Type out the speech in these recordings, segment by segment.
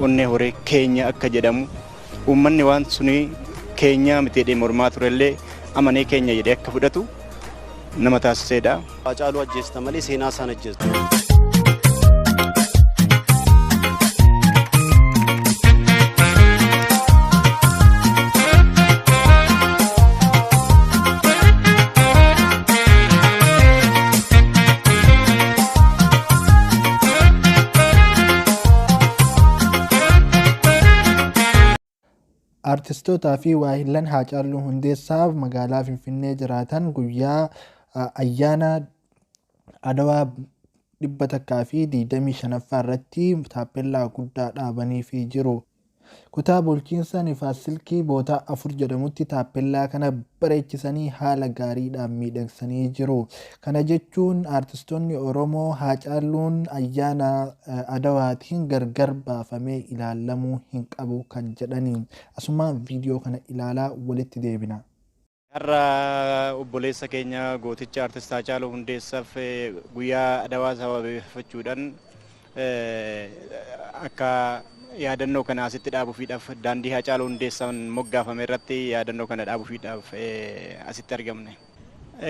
Onnee horee keenya akka jedhamu uummanni waan suni keenyaa miti jedhee mormaa turellee amanee keenya jedhee akka fudhatu nama taasiseedha. Haacaaluu ajjeesta malee seenaa isaan ajjeestu. Artistootaa fi waahillan Haacaaluu Hundeessaaf magaalaa Finfinnee jiraatan guyyaa ayyaana Adawaa 125ffaa irratti taappellaa guddaa dhaabaniifii jiru. Kutaa bulchiinsa Nifaas Silkii Bootaa 4 jedhamutti taappellaa kana bareechisanii haala gaariidhaan miidhagsanii jiru. Kana jechuun aartistoonni Oromoo Haacaalluun ayyaana Adawaatiin gargar baafamee ilaalamuu hin qabu kan jedhani. Asumaan viidiyoo kana ilaalaa walitti deebina. Har'a obboleessa keenya gooticha Artist Haacaaluu Hundeessaaf guyyaa Adawaa sababeeffachuudhaan akka yaadannoo kana asitti dhaabuufiidhaaf daandii Haacaaluu Hundeessaan moggaafame irratti yaadannoo kana dhaabuufiidhaaf asitti argamne.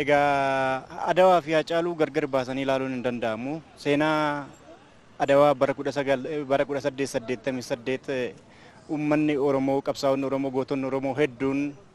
Egaa Adawaa fi Haacaaluu gargar baasanii ilaaluun hin danda'amu. Seenaa Adawaa bara 1888 uummanni Oromoo, qabsaa'onni Oromoo, gootonni Oromoo hedduun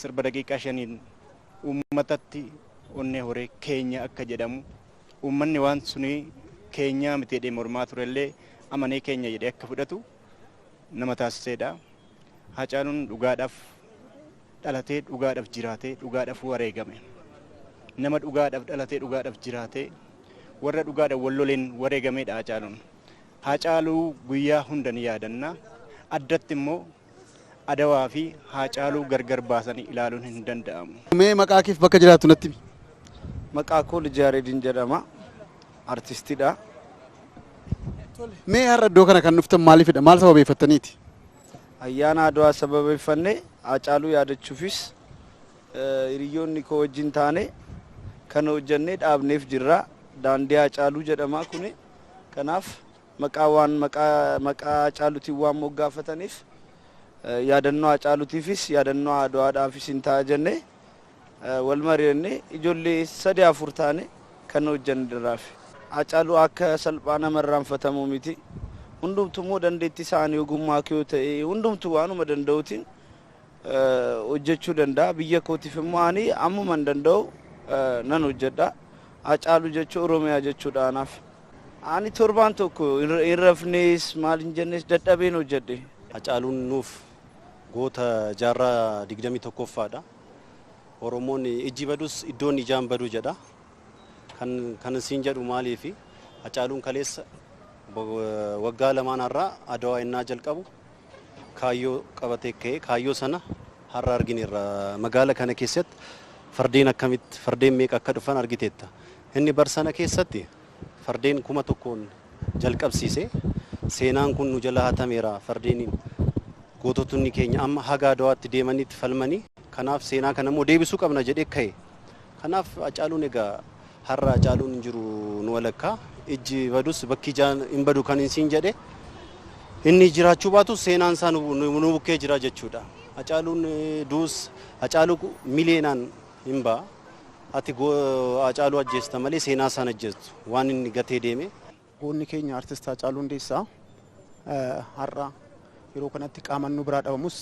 sirba daqiiqaa shaniin uummatatti onnee horee keenya akka jedhamu uummanni waan suni keenyaa miti jedhee mormaa turellee amanee keenya jedhee akka fudhatu nama taasiseedha. Haacaaluun dhugaadhaaf dhalatee dhugaadhaaf jiraatee dhugaadhaaf wareegame. Nama dhugaadhaaf dhalatee dhugaadhaaf jiraatee warra dhugaadhaaf wal loleen wareegameedha Haacaaluun. Haacaaluu guyyaa hundan yaadanna. Addatti immoo Adawaa fi Haacaaluu gargar baasanii ilaaluun hin danda'amu. Mee maqaa keef bakka jiraattu natti himi. Maqaa koo Lijaaredin jedhama. Artistidha. Mee har'a iddoo kana kan dhuftan maaliifidha? Maal sababeeffattaniiti? Ayyaana Adwaa sababeeffannee Haacaaluu yaadachuufis eh, hiriyoonni koo wajjin taane kan hojjannee dhaabneef jirra. Daandii Haacaaluu jedhama kuni. Kanaaf Maqaa waan maqaa maqaa Haacaalutiin waan moggaafataniif yaadannoo Haacaalutiifis yaadannoo Adwaadhaafis hin ta'a jennee wal mari'annee ijoollee sadii afur taane kan hojjanne diraafi. Haacaaluu akka salphaa nama irraanfatamu miti. Hundumtu immoo dandeetti isaan ogummaa kee yoo ta'e hundumtu waanuma danda'utiin hojjechuu danda'a. Biyya kootiif immoo ani ammuman danda'u nan hojjedha. Hacaaluu jechuun Oromiyaa jechuudha anaaf. Ani torbaan tokko hin rafnees maal hin jennees dadhabeen hojjedhe. Hacaaluun nuuf goota jaarraa 21ffaadha. Oromoon ijji badus iddoon ijaa hin badu jedha. Kan kan siin jedhu maaliifi? Hacaaluun kaleessa waggaa lamaan har'aa Adawaa ennaa jalqabu kaayyoo qabatee ka'e. Kaayyoo sana har'a argineerra. Magaala kana keessatti fardeen akkamitti fardeen meeqa akka dhufan argiteetta. Inni bar sana keessatti fardeen kuma tokkoon jalqabsiise. Seenaan kun nu jala hatameera fardeeniin. Goototni keenya amma haga Adawaatti deemaniitti falmanii. Kanaaf seenaa kana immoo deebisuu qabna jedhee ka'e. Kanaaf Hacaaluun egaa har'a Hacaaluun hin jiru nu walakkaa. Ijji badus bakki ijaa hin badu kanin siin jedhe inni jiraachuu baatus seenaan isaa nu bukkee jira jechuudha. Hacaaluun du'us Hacaaluu miliyeenaan hin ba'a. Ati Hacaaluu ajjeesta malee seenaa isaa hin ajjeestu waan inni gatee deeme. Goonni keenya Artist Haacaaluu Hundeessaa har'a yeroo kanatti qaamaan nu biraa dhabamus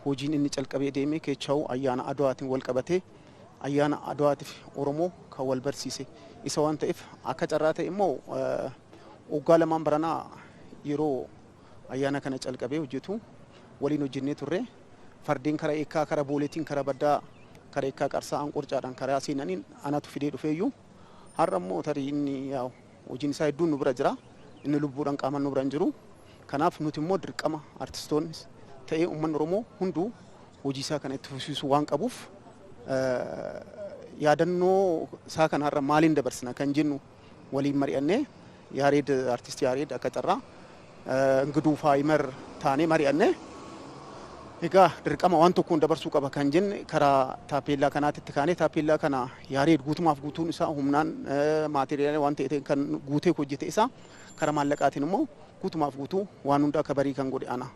hojiin inni calqabee deeme keechawuu ayyaana Adwaatiin wal qabatee ayyaana Adwaatiif Oromoo kan wal barsiise isa waan ta'eef akka carraa ta'e immoo waggaa lamaan baranaa yeroo ayyaana kana calqabee hojjetu waliin hojjennee turre fardeen kara eekkaa kara booleetiin kara baddaa kara eekkaa qarsaa anqorcaadhaan karaa seenaniin anatu fidee dhufeeyyuu har'a immoo tarii inni Hojiin isaa hedduun nu bira jira. Inni lubbuudhaan qaamaan nu bira hin jiru. Kanaaf nuti immoo dirqama artistoonnis ta'ee uummanni Oromoo hunduu hojii isaa kana itti fufsiisuu waan qabuuf yaadannoo isaa kana har'a maaliin dabarsina kan jennu waliin mari'annee Yaareed artisti Yaareed akka carraa Ngduufaa Ymer taanee mari'anne. Egaa dirqama waan tokkoon dabarsuu qaba kan jenne karaa taappeellaa kanaatti itti kaanee taappeellaa kana Yaareed guutumaaf guutuun isaa humnaan maateriyaala waan ta'e kan guutee hojjete isaa karaa maallaqaatiin immoo guutumaaf guutuu waan hunda akka barii kan godhe ana.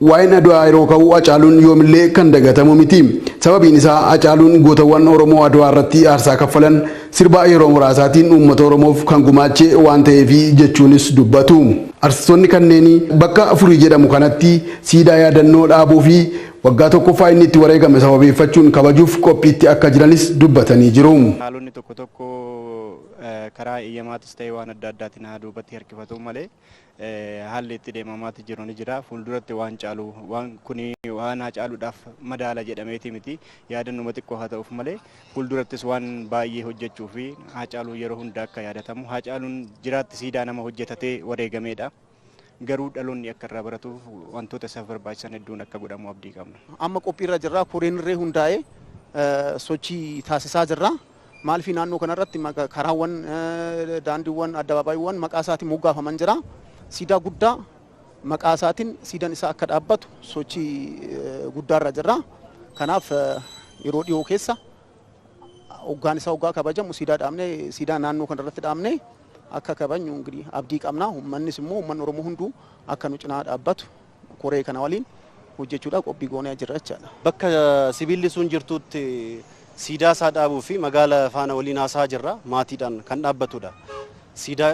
Waa'een Adwaa yeroo ka'u Hacaaluun yoomillee kan dagatamu miti. Sababiin isaa Hacaaluun gootawwan Oromoo Adwaa irratti aarsaa kaffalan sirba yeroo muraasaatiin uummata Oromoof kan gumaache waan ta'eefi jechuunis dubbatu. Artistoonni kanneenii bakka Furii jedhamu kanatti siidaa yaadannoo dhaabuufi waggaa tokkoffaa inni itti wareegame sababeeffachuun kabajuuf qophiitti akka jiranis dubbatanii jiru. Haalonni tokko tokko karaa eeyyamaatis ta'e waan adda addaatiin haa duubatti harkifatuu malee, haalli itti deemamaatti jiru ni jira. Fuulduratti waan caalu waan kuni waan haacaaluudhaaf madaala jedhameeti miti. Yaadannuma xiqqoo haa ta'uuf malee fuuldurattis waan baay'ee hojjechuu fi haacaaluu yeroo hunda akka yaadatamu. Haacaaluun jiraatti siidaa nama hojjetatee wareegameedha. Garuu dhaloonni akka irraa baratuuf wantoota isaaf barbaachisan hedduun akka godhamu abdii qabna. Amma qophiirra jirra. Koreen irree hundaa'ee sochii taasisaa jirra. Maalfi naannoo kanarratti maqa- karaawwan, eh, daandiiwwan, addabaabaayiiwwan maqaa isaatiin moggaafaman jira. Siidaa guddaa maqaa isaatiin siidan isaa akka dhaabbatu sochii eh, guddaarra jirra. Kanaaf eh, yeroo dhiyoo keessa hoggaan isaa hoggaa kabajamu siidaa dhaabnee siidaa naannoo kanarratti dhaabnee akka kabajnu ingirii abdii qabna. Uummannis immoo uummanni Oromoo hunduu akka nu cinaa dhaabbatu koree kana waliin hojjechuudhaaf qophii goonee jirra jechaadha. Bakka sibiilli sun jirtuutti siidaa isaa dhaabuu fi magaala faana waliin haasaa jirra. Maatiidhaan kan dhaabbatudha. Siidaa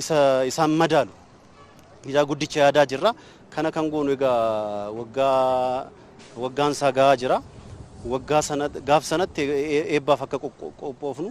isa isaan madaalu siidaa guddicha yaadaa jirra. Kana kan goonu egaa waggaa waggaan isaa gahaa jira. Waggaa sana gaaf sanatti eebbaaf akka qophoofnu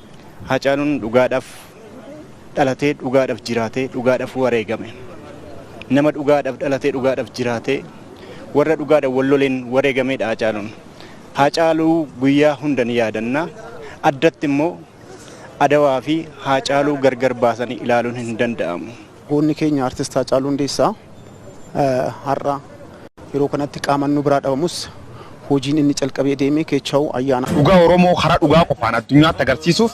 Haacaaluun dhugaadhaaf dhalatee dhugaadhaaf jiraatee dhugaadhaaf wareegame. Nama dhugaadhaaf dhalatee dhugaadhaaf jiraatee warra dhugaadhaan wal loleen wareegameedha Haacaaluun. Haacaaluu guyyaa hunda ni yaadanna. Addatti immoo Adawaa fi Haacaaluu gargar baasanii ilaaluun hin danda'amu. Goonni keenya Artist Haacaaluu Hundeessaa har'a yeroo kanatti qaaman nu biraa dhabamus hojiin inni calqabee deeme keechaa'uu ayyaana. Dhugaa Oromoo karaa dhugaa qofaan addunyaatti agarsiisuuf